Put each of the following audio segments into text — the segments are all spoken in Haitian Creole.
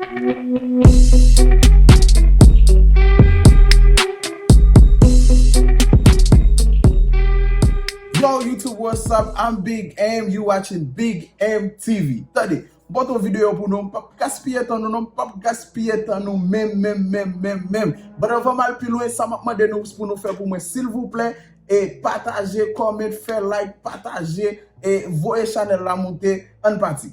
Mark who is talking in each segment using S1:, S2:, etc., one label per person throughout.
S1: Yo YouTube what's up I'm Big M you watching Big M TV Tande m pote yon videyo pou nou m pap gaspiye tan nou non m pap gaspiye tan nou menm menm menm menm menm but anvan m al pi lwen sa map mande nou pou nou fè pou mwen silvouplè e pataje comment fè like pataje e voye chanèl la moute ann pati.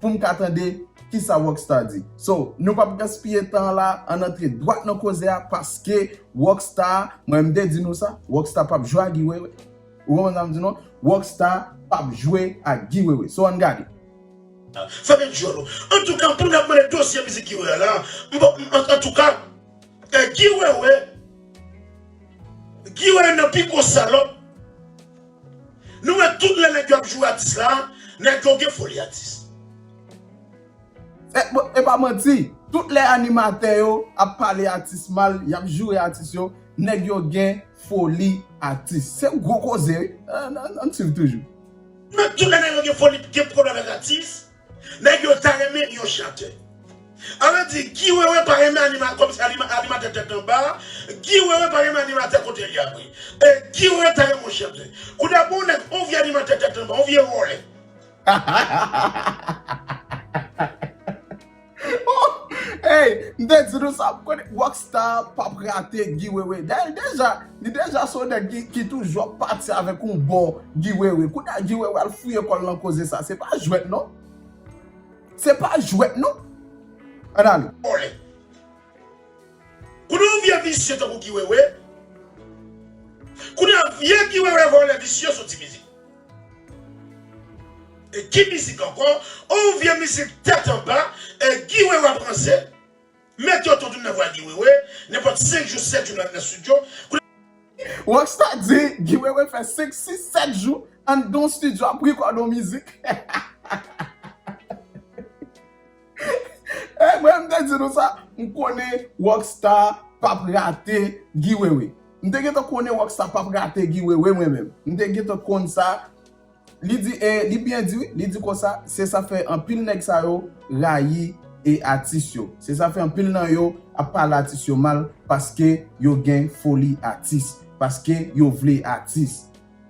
S1: poum ka tande kisa Rock Star di. So, nou pap gaspiye tan an la, ann antre dwat nan koze a paske Rock Star, mwen menm m te di nou sa, Rock Star pap jwe ak Guy Wewe. Ou konprann sa m di nou an? Rock Star pap jwe ak Guy Wewe. So ann gade. Fèmen
S2: dyòl ou. Antouka poun ap mande dosye mizik Guy Wewe a la, m pap m antouka Guy Wewe Guy Wewe nan pi gwo salòp. Nou wè tout lè nèg yo ap joure atis la nèg yo gen foli atis.
S1: E pa manti tout lè animatè yo ap pale atis mal yap joure atis yo nèg yo gen foli atis se yon gwo koze wi ann swiv toujou. Nou wè tout lè
S2: nèg yo gen foli gen pwoblèm ak atis. Nèg yo ta renmen yon chantè. An nou di Guy wewe pa renmen animatè kòm se animatè tèt anba Guy wewe pa renmen animatè kotel ya vre e Guy wewe ta renmen yon chantè kounye pou yon nèg yon vye animatè tèt anba yon vye vòlè.
S1: Hey m te di nou sa m konnen rock star pap rate Guy Wewe dayè li deja li deja se yon nèg ki toujou ap pati avèk yon bon Guy Wewe kounye a Guy Wewe al fouye kòl nan koze sa se pa jwèt non se pa jwèt non ann ale. Vole.
S2: Konnen yon vye visye tankou Guy Wewe kounye a vye Guy Wewe vole visye soti mizik Ki mizik ankò on vye mizik tèt anba Guy Wewe ap ranse Met yon ton tounn nan vwa Guy Wewe nenpòt 5 jou 7 jou nan studio.
S1: Rocksta di Guy Wewe fè 5 6 7 jou anndan yon studio ap record on mizik. Hey mwen m te di nou sa, m konnen rock star pap rate Guy Wewe. M te gentan konnen rock star pap rate Guy Wewe mwen menm. M te gentan konn sa. Li di e li byen di wi, li di konsa se sa fè anpil nèg sa yo rayi e atis yo. Se sa fè anpil nan yo ap pale atis yo mal paske yo gen foli atis, paske yo vle atis.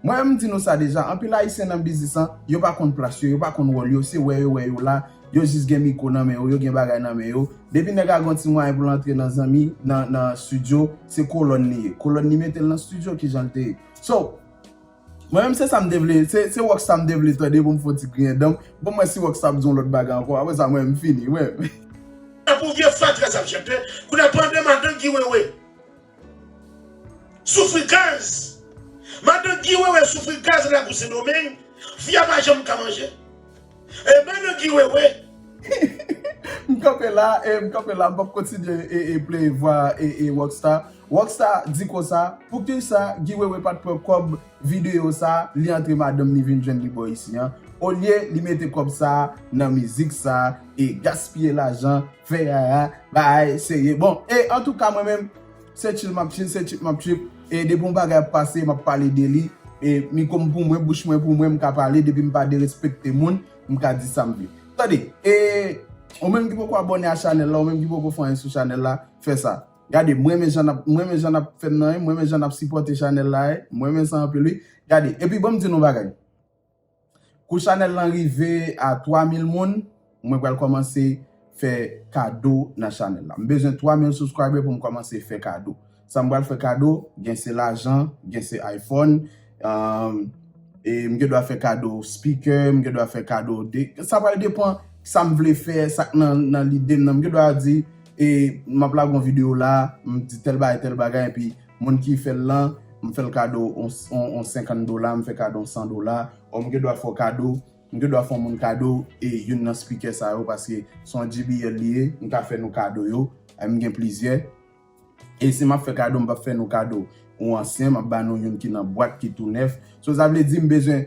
S1: Mwen menm m di nou sa deja, anpil ayisyen nan biznis lan, yo pa konn plas yo, yo pa konn wòl yo, se wè yo wè yo la, yo jis gen mikwo nan men yo, yo gen bagay nan men yo, depi nèg la gen yon ti mwayen pou l antre nan zanmi, nan, nan stidyo, se kolòn li ye, kolòn li mete l nan stidyo, kijan l te ye. So, mwen menm se sa m te vle, se, se rock star m te vle tande pou m fè yon ti griyen dan m, bon m wè si rock star ap di yon lòt bagay ankò, aprè sa mwen menm m fini, mwen menm. Tankou
S2: vye fatra sa ap chante, kounye a pandan madan Guy Wewe Soufri gaz! Madan Guy Wewe soufri gaz lagou Sendomeng, fi a pa janm ka manje. E madan Guy Wewe! M kanpe
S1: la e m kanpe la m pap kontinye e play vwa e Rock Star. Rock Star di konsa, poukisa Guy Wewe pat pran kòb videyo sa li antre madanm li vin jwenn li bò isi an, olye li mete kòb sa nan mizik sa e gaspiye lajan. Fè yaya bay seye bon e antouka mwen menm se chill map chill se trip map trip e depi yon bagay ap pase map pale de li e miko m pou mwen bouch mwen pou mwen m ka pale depi m pa derespekte moun m ka di sam vle tande e ou menm ki poko abòne a chanèl la ou menm ki poko fè anyen sou chanèl la fè sa gade m renmen jan nap m renmen jan nap fèm nan e m renmen jan nap sipòte chanèl la e m renmen sa anpil wi gade epi banm di nou yon bagay. Kou chanèl lan rive a 3000 moun mwen pral kòmanse fè kado nan chanèl la. M bezwen 3000 subscriber pou m kòmanse fè kado. Sa m pral fè kado, gen se lajan, gen se iPhone, e m gen dwa fè kado speaker, m gen dwa fè kado de, sa pral depan sa m vle fè, sa k nan lide m nan. M gen dwa di e m ap lage yon video la, m di tèl bagay, tèl bagay epi. Moun ki fè l lan, m fè l kado yon 50 dola, m fè kado yon 100 dola, or m gen dwa fè w kado, m gen dwa fè yon moun kado e youn nan speaker sa yo paske se yon JBL li ye, m ka fè nou kado yo, m gen plizyè. E si m ap fè kado, m p ap fè nou kado yon ansyen, m ap ba nou youn ki nan bwat, ki tou nèf. So sa vle di m bezwen.